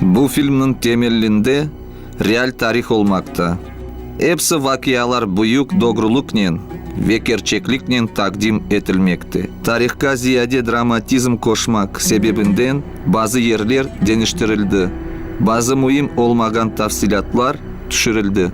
Bu filmniñ temellinde real tarih olmaqta. Epsi vaqialar büyük dogrulıqnen ve kerçekliknen taqdim etilmekte. Tarihqa ziyade dramatizm qoşmaq sebebinden bazı yerler deñiştirildi, bazı müim olmağan tafsilâtlar tüşürildi.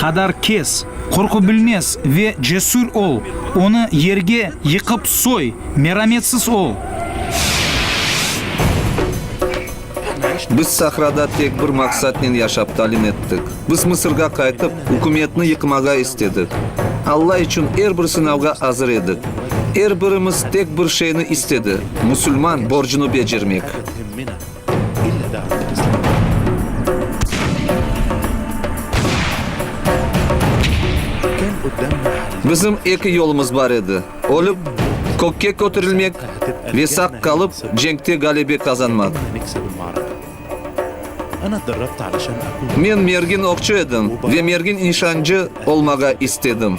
Qadar kes, qorqu bilmez ve cesür ol, onı yerge yıqıp soy, merametsiz ol! Biz sahrada tek bir maqsatnen yaşap talim ettik. Biz Mısırğa qaytıp, ükümetni yıqmağa istedik. Alla içün er bir sınavğa azır edik. Er birimiz tek bir şeyni istedi, musulman borcunu becermek. Bizim eki yolumız bar edi, ölip, kökke köterilmek ve saq qalıp, cenkte ğalebe qazanmaq. Men mergin oqçu edim ve mergin nişancı olmağa istedim.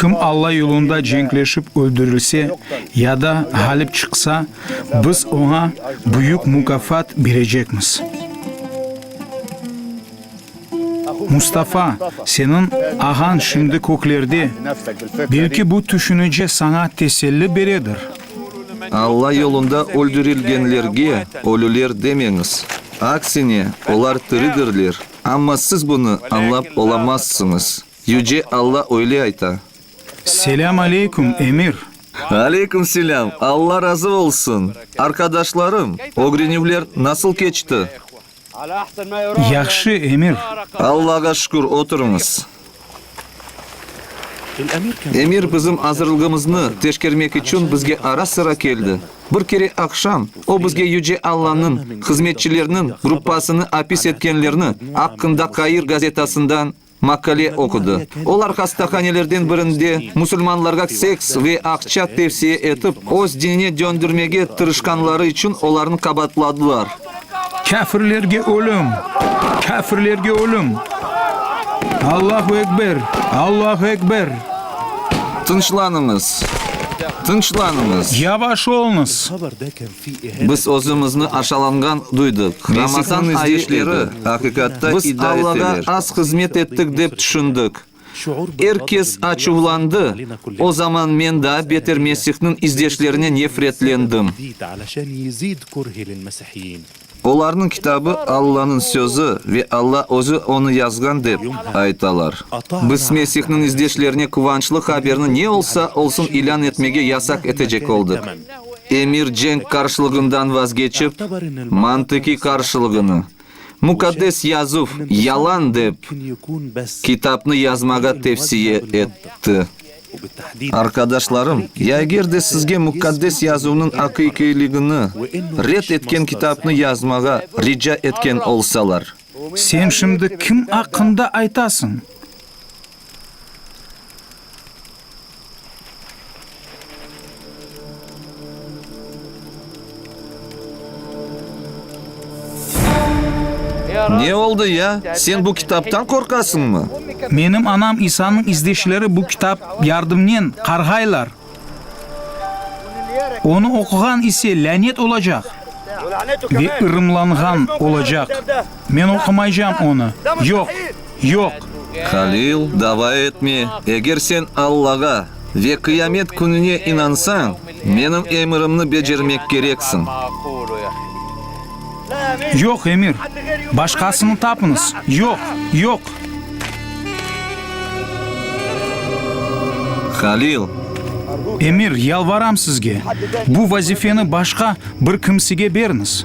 Kim Alla yolunda cenkleşip öldürilse ya da ğalip çıqsa, biz oña büyük mukafat berecekmiz. Mustafa, seniñ ağañ şimdi köklerde, belki bu tüşünice saña teselli beredir. Alla yolunda öldürilgenlerge ölüler demeñiz. Aksine, olar tiridirler, amma siz bunı añlap olamazsıñız. Yüce Alla öyle ayta. Selâm aleyküm, emir! Aleyküm selâm, Alla razı olsun! Arqadaşlarım, ögrenüvler nasıl keçti? Yahşı, emir. Allağa şükür, oturıñız. Emir bizim azırlığımıznı teşkermek içün bizge ara-sıra keldi. Bir kere aqşam o bizge Yüce Allanıñ hızmetçileriniñ gruppasını apis etkenlerni aqqında Kair gazetasından Maqale oqudı. Olar hastahanelerden birinde musulmanlarğa seks ve aqça tevsiye etip, öz dinine döndürmege tırışqanları içün olarnı qabaatladılar. Kâfirlerge ölüm! Kâfirlerge ölüm! Allahu ekber! Allahu ekber! Tınçlanıñız! Tınçlanıñız! Yavaş olñız! Biz özümizni aşalanğan duydıq. Ramazan ayı edi. Biz Allağa az hızmet ettik dep tüşündik. Er kes açuvlandı. O zaman men daa beter Mesihniñ izdeşlerine nefretlendim. Olarnıñ kitabı Allanıñ sözü ve Alla özü onı yazğan dep aytalar. Biz Mesihniñ izdeşlerine quvançlı haberni ne olsa olsun ilân etmege yasaq etecek oldıq. Emir cenk qarşılığından vazgeçip, mantıqiy qarşılığını, Muqaddes Yazuv, yalan dep, kitapnı yazmağa tevsiye etti. Arqadaşlarım, ya eger de sizge Muqaddes Yazuvnıñ aqiqiyligini red etken kitapnı yazmağa rica etken olsalar. Sen şimdi kim aqqında aytasıñ? Ne oldı ya? Sen bu kitaptan qorqasıñmı? Menim anam İsanıñ izdeşleri bu kitap yardımnen qarğaylar. Onı oquğan ise lânet olacaq ve ırımlanğan olacaq. Men oqumaycam onı. Yoq! Yoq! Halil, dava etme! Eger sen Allağa ve Qıyamet Kününe inansañ, menim emirimni becermek kereksiñ. Yoq, emir! Başqasını tapıñız! Yoq! Yoq! Halil! Emir, yalvaram sizge, bu vazifeni başqa bir kimsege beriñiz!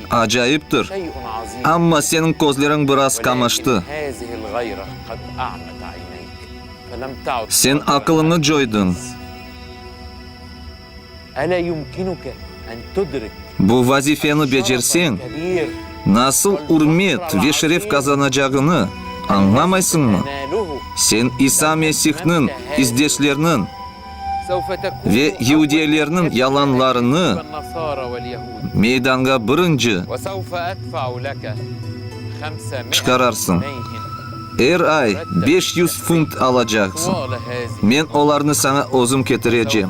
Acayiptir. Amma seniñ közleriñ biraz qamaştı. Sen aqılıñı coydıñ. Bu vazifeni becerseñ, nasıl ürmet ve şeref qazanacağını añlamaysıñmı? Sen İsa Mesihniñ izdeşleriniñ. Ve yeudiyelerniñ yalanlarını meydanğa birinci çıqararsıñ. Er ay beş yüz funt alacaqsıñ. Men olarnı saña özüm ketirecem.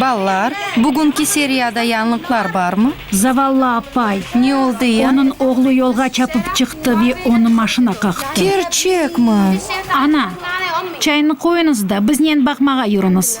Balalar, bugünki seriyada yañlıqlar barmı? Zavallı apay. Ne oldı ya? Onıñ oğlu yolğa çapıp çıqtı ve onı maşina qaqtı. Kerçekmi? Ana, çayni qoyuñız da, biznen baqmağa yürüñiz.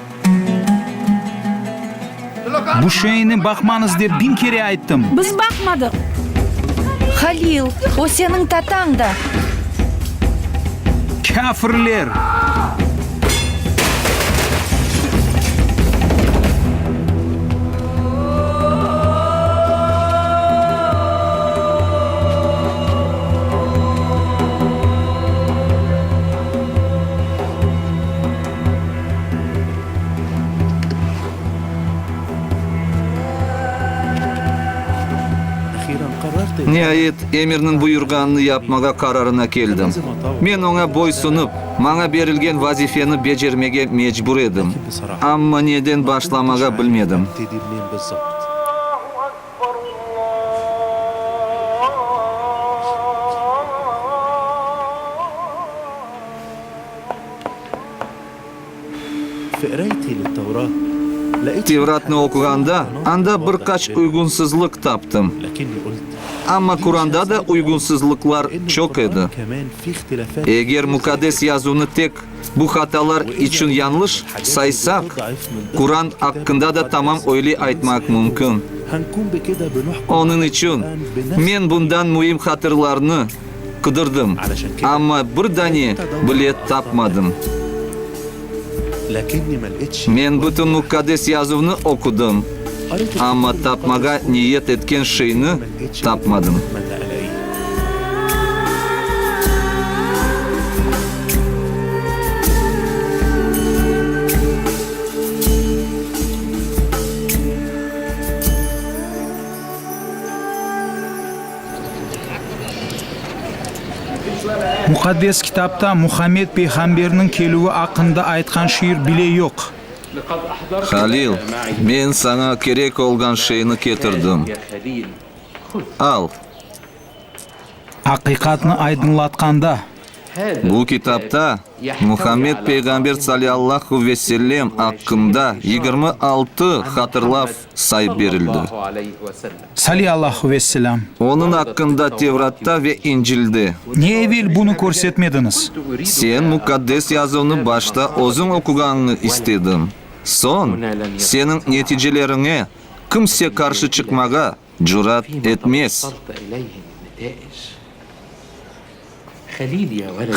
Bu şeyni baqmañız dep biñ kere ayttım. Biz baqmadıq. Halil, o seniñ tatañ da. Kâfirler! Niayet, emirniñ buyurğanını yapmağa qararına keldim. Men oña boysunıp, maña berilgen vazifeni becermege mecbur edim. Amma neden başlamağa bilmedim. Tevratnı oquğanda, anda bir qaç uyğunsızlıq taptım. Amma Quranda da uyğunsızlıqlar çoq edi. Eger Muqaddes Yazuvnı tek. Bu hatalar içün yañlış saysaq, Quran aqqında da tamam öyle aytmaq mümkün. Onıñ içün men bundan müim hatırlarnı qıdırdım, amma bir dane bile tapmadım. Men bütün Muqqades Yazuvnı oqudım, amma tapmağa niyet etken şeyni tapmadım. Muqaddes kitapta Muhammed peyğamberniñ kelüvi aqqında aytqan şiir bile yoq. Halil, men saña kerek olğan şeyni ketirdim, al. Aqiqatnı aydınlatqanda. Bu kitapta Muhammed peyğamber saliallahu ve sellem aqqında yigirmi altı hatırlav sayıp berildi. Sali Allahu ve Selam. Onıñ aqqında Tevratta ve İncilde. Ne evel bunı körsetmediñiz? Sen Muqaddes Yazuvnı başta özüñ oquğanıñı istedim. Soñ, seniñ neticeleriñe kimse qarşı çıqmağa cürat etmez.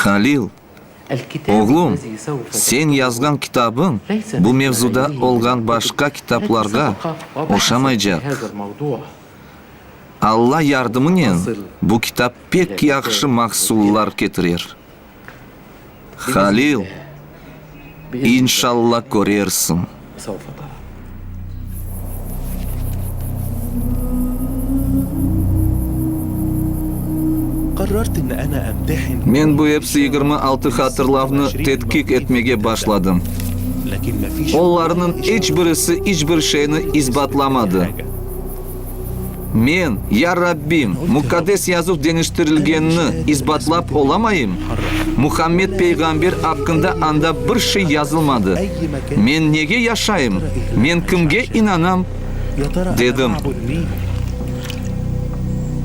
Halil. Oğlum, sen yazğan kitabıñ bu mevzuda olğan başqa kitaplarğa oşamaycaq. Alla yardımınen bu kitap pek yahşı mahsullar ketirer. Halil, inşalla körersiñ. Qısa ufadan. Qarrart inni ana emtehin. Men bu epsi yigirmi altı hatırlavnı tedqiq etmege başladım. Olarnıñ iç birisi iç bir şeyni isbatlamadı. Men, Ya Rabbim, Muqaddes Yazuv deñiştirilgenini isbatlap olamayım? Muhammed peyğamber aqqında anda bir şey yazılmadı. Men nege yaşayım? Men kimge inanam? dedim.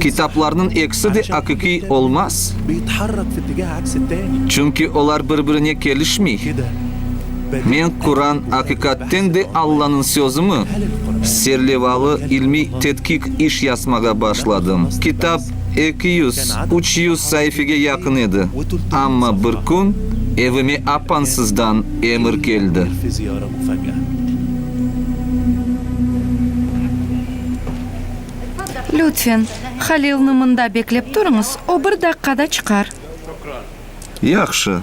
Kitaplarnıñ ekisi de aqiqiy olmaz, çünki olar bir-birine kelişmey. Men Quran aqiqatten de Allanıñ sözümi serlevalı ilmiy tedqiq iş yazmağa başladım. Kitap eki yüz, üç yüz saifege yaqın edi, amma bir kün evime apansızdan emir keldi. Lütfen, Halilni mında beklep turıñız, o bir daqqada çıqar. Yahşı.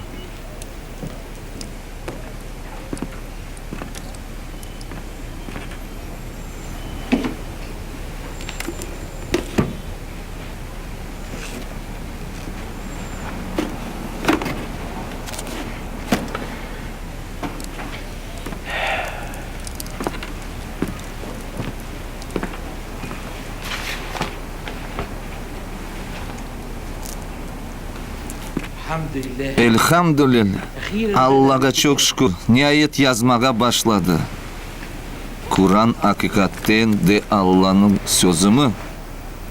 Elhamdülilâ, Allağa çoq şükür, niayet yazmağa başladı. Quran aqiqatten de Allanıñ sözümi?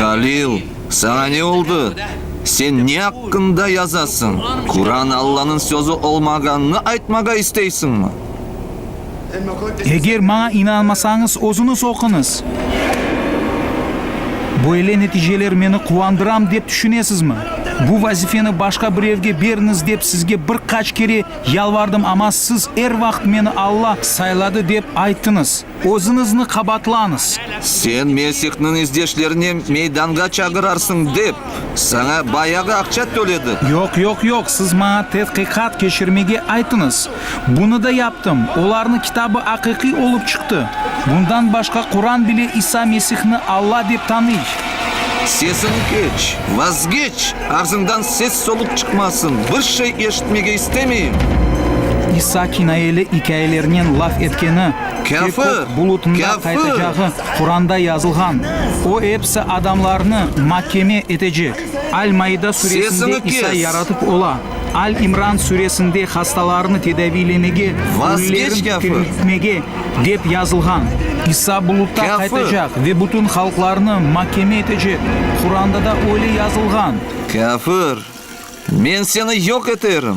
Halil, saña ne oldı? Sen ne aqqında yazasıñ? Quran Allanıñ sözü olmağanını aytmağa isteysiñmi? Eger maña inanmasañız, özüñiz oquñız. Böyle neticeler meni quvandıram dep tüşünesizmi? Bu vazifeni başqa birevge beriñiz dep sizge bir qaç kere Yalvardım, amma siz er vaqıt meni Alla sayladı dep ayttıñız. Özüñizni qabaatlañız. Sen Mesihniñ izdeşlerine meydanğa çağırarsıñ dep, saña bayağı aqça töledi. Yoq, yoq, yoq, siz maña tedqiqat keçirmege ayttıñız. Bunı da yaptım. Olarnıñ kitabı aqiqiy olıp çıqtı. Bundan başqa Quran bile İsa Mesihni Alla dep tanıy. Sesiñ keç, vazgeç! Ağzıñdan ses-soluq çıqmasın! Bir şey eşitmege istemeyim! İsa kinayeli ikâyelernen laf etkeni, Kâfir! Kâfir! Quranda yazılğan. O episi adamlarnı makeme etecek. Al-Maida suresinde İsa yaratıp ola. Al İmran süresinde hastalarını tedaviylemege, ölülerin tiriltmege dep yazılğan. İsa bulutta qaytacaq ve bütün halqlarnı makeme etecek. Quranda da öyle yazılğan. Kâfir, men seni yoq eterim!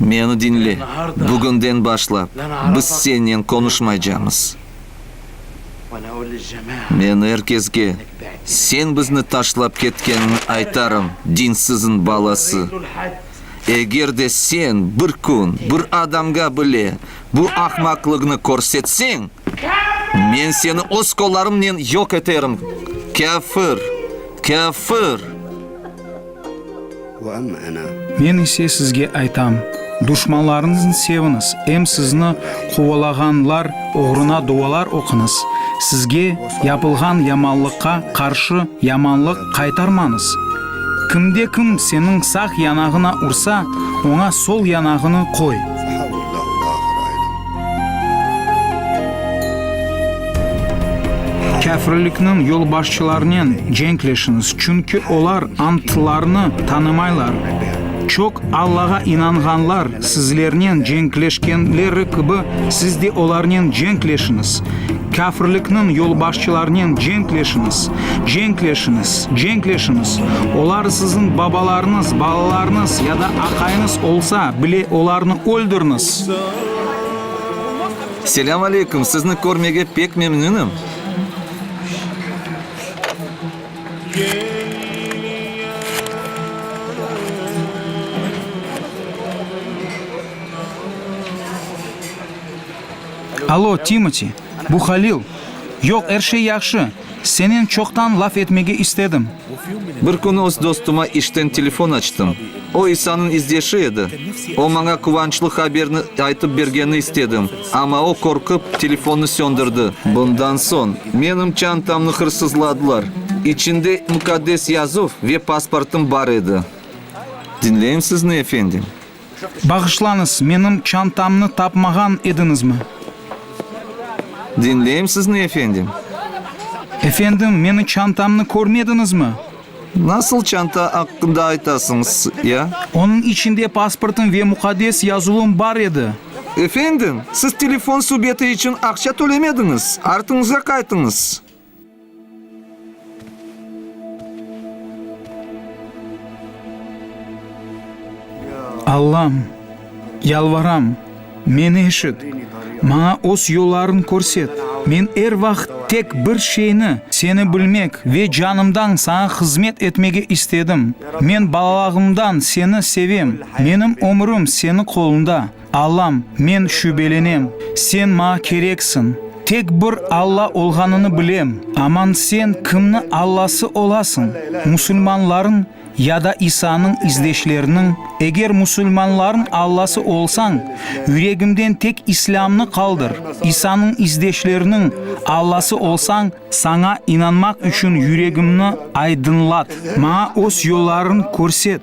Meni diñle, bugünden başlap, biz sennen qonuşmaycamız. Men er kesge, sen bizni taşlap ketkeniñi aytarım, dinsizin balası! Eger de sen bir kün bir adamğa bile bu ahmaqlıgnı körsetseñ, men seni öz qollarımnen yoq eterim, kâfir! Kâfir! Men ise sizge aytam, duşmanlarıñıznı seviñiz, em sizni quvalağanlar oğruna dualar oquñız, sizge yapılğan yamanlıqqa qarşı yamanlıq qaytarmañız. Kimde-kim seniñ sağ yanağına ursa, oña sol yanağını qoy. Kâfirlikniñ yolbaşçılarınen cenk leşiñiz, çünki olar antlarnı tanımaylar. Çoq Allağa inanğanlar sizlernen cenkleşkenleri kibi, siz de olarnen cenk leşiñiz. Kâfirlikniñ yolbaşçılarınen cenk leşiñiz, cenk leşiñiz, cenk leşiñiz. Olar siziñ babalarıñız, balalarıñız ya da aqayıñız olsa bile, olarnı öldüriniz. Selâm aleykum, sizni körmege pek memnünim. Alo, Timoti, bu Halil. Yoq, er şey yahşı. Senen çoqtan laf etmege istedim. Bir kün öz dostuma işten telefon açtım. O, İsanıñ izdeşi edi. O, maña quvançlı haberni aytıp bergeni istedim, amma o, qorqıp, telefonnı söndürdi. Bundan soñ menim çantamnı hırsızladılar. İçinde Mukaddes Yazuv ve pasportım bar edi. Diñleyim sizni, efendim. Bağışlañız, menim çantamnı tapmağan ediñizmi? Diñleyim sizni, efendim. Efendim, meni çantamnı körmediñizmi? Nasıl çanta aqqında aytasıñız, ya? Onıñ içinde pasportım ve muqaddes yazuvım bar edi. Efendim, siz telefon subeti içün aqça tölemediñiz, artıñızğa qaytıñız. Allam, yalvaram, meni eşit, maña öz yollarıñ körset. Men er vaqıt tek bir şeyni, seni bilmek ve canımdan saña hızmet etmege istedim. Men balalağımdan seni sevem, menim ömürim seniñ qolunda. Allam, men şübelenem, sen maña kereksiñ. Tek bir Alla olğanını bilem, aman sen kimni Allası olasıñ, musulmanlarnıñ ya da İsanıñ izdeşleriniñ? Eger musulmanlarnıñ Allası olsañ, yüregimden tek İslâmnı qaldır, İsanıñ izdeşleriniñ Allası olsañ, saña inanmaq içün yüregimni aydınlat, maña öz yollarıñ körset.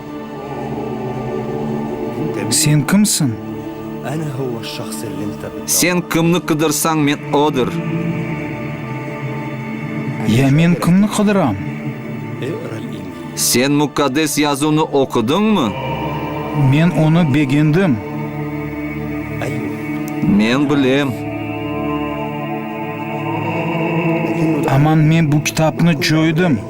Sen kimsiñ? Sen kimni qıdırsañ, men odır. Ya men kimni qıdıram? Sen Muqaddes Yazuvnı oqudıñmı? Men onı begendim. Men bilem. Aman men bu kitapnı coydım.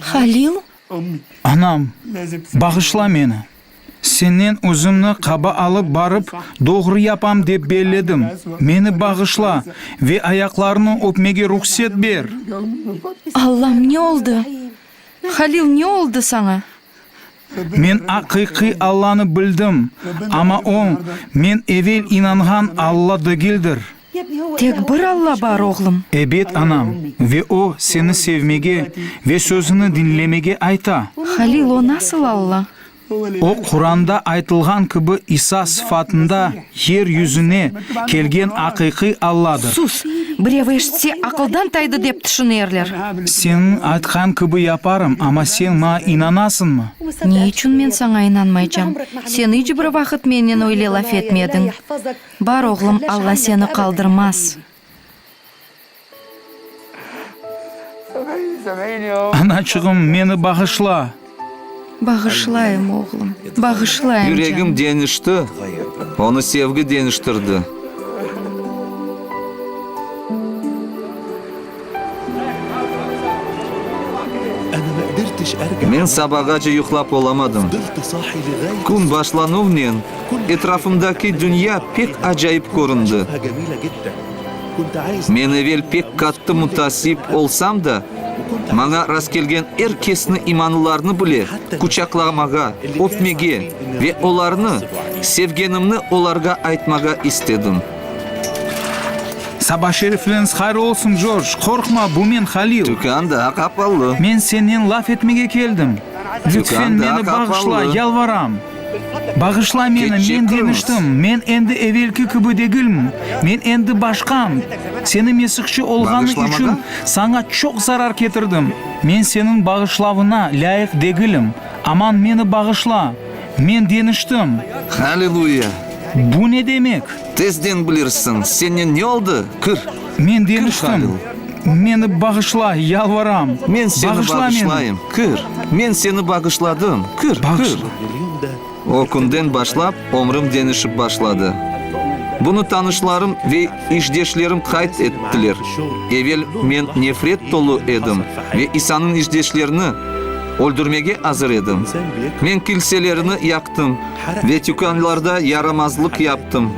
Halil. Anam, bağışla meni. Sennen özümni qaba alıp barıp, doğru yapam dep belledim. Meni bağışla ve ayaqlarını öpmege ruhset ber! Allam, ne oldı? Halil, ne oldı saña? Men aqiqiy Allanı bildim, amma o, men evel inanğan Alla degildir. Tek bir Alla bar, oğlum. Ebet, anam, ve o, seni sevmege ve sözüni diñlemege ayta. Halil, o nasıl Alla? O, Quranda aytılğan kibi İsa sıfatında. Yer yüzüne kelgen aqiqiy Alladır. Sus! Birevi eşitse, aqıldan taydı dep tüşünerler. Seniñ aytqan kibi yaparım, amma sen maña inanasıñmı? Ne içün men saña inanmaycam? Sen iç bir vaqıt mennen öyle laf etmediñ. Bar, oğlum, Alla seni qaldırmaz. Anaçığım, meni bağışla! Bağışlayım, oğlum, bağışlayım, canım. Yüregim deñişti, onı sevgi deñiştirdi. Men sabağace yuqlap olamadım. Kün başlanuvnen Etrafımdaki dünya pek acayip köründi. Men evel pek qattı mütasip olsam da, maña rastkelgen er kesni imanlılarnı bile quçaqlamağa, öpmege ve olarnı sevgenimni olarğa aytmağa istedim. Saba şerifleriñiz hayır olsun, Jorj! Qorqma, bu men, Halil. Tükân daa qapalı. Men senen laf etmege keldim. Lütfen, meni bağışla, yalvaram! Bağışla meni, men deñiştim, men endi evelki kibi degilmn, men endi başqam. Seni mesihçi olğanı içün saña çoq zarar ketirdim. Men seniñ bağışlavına lâyıq degilim. Aman meni bağışla, men deñiştim. Halleluya! Bu ne demek? Tezden bilirsiñ. Señe ne oldı? Kir! Men deñiştim, meni bağışla, yalvaram, bağışla meni. Kir. Men seni bağışladım, kir, kir. O künden başlap ömrüm deñişip başladı. Bunı tanışlarım ve işdeşlerim qayd ettiler. Evel men nefret tolu edim ve İsanıñ işdeşlerini öldürmege azır edim. Men kilselerini yaqtım ve tükânlarda yaramazlıq yaptım.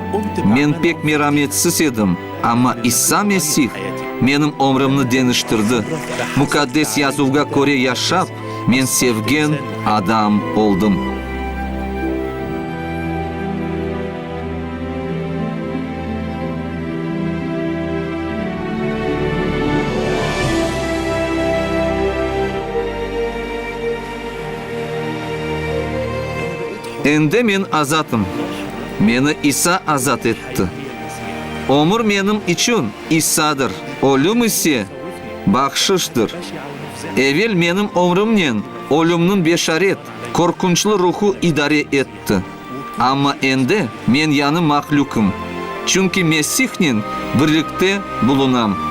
Men pek merametsiz edim. Amma İsa Mesih menim ömrümni deñiştirdi. Mukaddes Yazuvğa köre yaşap, men sevgen adam oldım. Endi men azatım. Meni İsa azat etti. Ömür menim içün issadır, ölüm ise, bahşıştır. Evel menim ömrümnen ölümniñ beşaret, qorqunçlı ruhu idare etti, amma endi men yañı mahlükım, çünki Mesihnen birlikte bulunam.